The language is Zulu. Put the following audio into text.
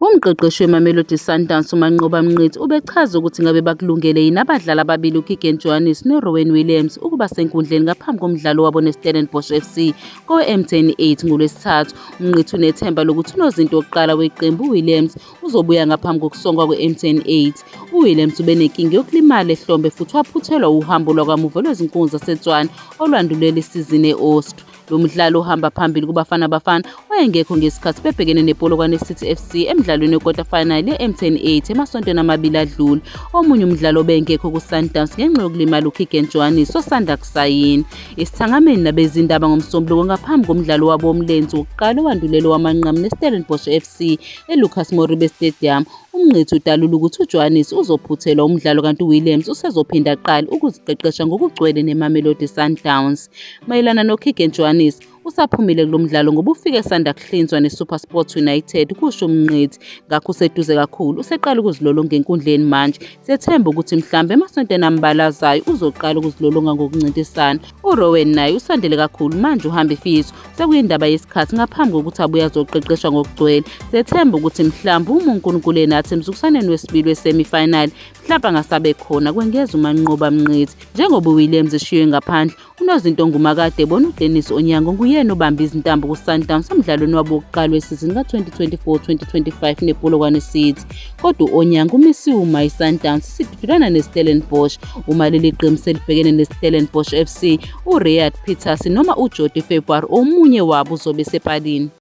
Umqeqeshi weMamelodi Sundowns uManqoba Mnqithi ubechaza ukuthi ngabe bakulungele yini abadlali ababili uKeagan Johannes noRowen Williams ukuba senkundleni ngaphambi komdlalo wabo neStellenbosch FC kowe-M10 8 ngoLwesithathu. Mnqithi unethemba lokuthi unozinto wokuqala weqembu uWilliams uzobuya ngaphambi kokusongwa kwe-M10 8. UWilliams ubenenkinga yokulimala ehlombe futhi waphuthelwa uhambo lwakamuva lwezinkunzi zaseTswana olwandulela isizini e-Austria. Lo mdlali ohamba phambili kuBafana Bafana wayengekho ngesikhathi bebhekene nePolokwane City FC emdlalweni we-quarter final ye-M10 8 emasontweni amabili adlule. Omunye umdlalo obengekho kuSundowns ngenxa yokulimala uKeegan Johannes osanda kusayina esithangameni nabezindaba ngoMsombuluko ngaphambi komdlalo wabo womlenze wokuqala owandulela wamanqamu neStellenbosch FC eLucas Moribe Stadium. Umngqithi udalula ukuthi uJohannes uzophuthelwa umdlalo kanti uWilliams usezophinda aqale ukuziqeqesha ngokugcwele neMamelodi Sundowns. mayelana noKeagan Johannes usaphumile kulo mdlalo ngoba ufike sanda kuhlinzwa neSuperSport United kusho umnqithi ngakho useduze kakhulu useqala ukuzilolonga enkundleni manje sethemba ukuthi mhlambe emasontweni ambalazayo uzoqala ukuzilolonga ngokuncintisana uRowan naye usandele kakhulu manje uhamba ifiso sekuyindaba yesikhathi ngaphambi kokuthi abuye azoqeqeshwa ngokugcwele sethemba ukuthi mhlambe uma uNkulunkulu enathi emzukusaneni wesibili wesemifinal mhlawumbe angasabe khona kwengeza umanqoba mnqithi njengoba uWilliams eshiywe ngaphandle Unozinto ongumakade bona uDennis Onyango nguyena obambe izintambo kuSundowns emdlalweni wabo wokuqala wesizini ka-2024-2025 nePolokwane City. Kodwa u-Onyango umisiwe uma iSundowns isidudulana neStellenbosch. Uma leli qembu selibhekene neStellenbosch FC, uRiyad Peters noma uJody February omunye wabo uzobe esepalini.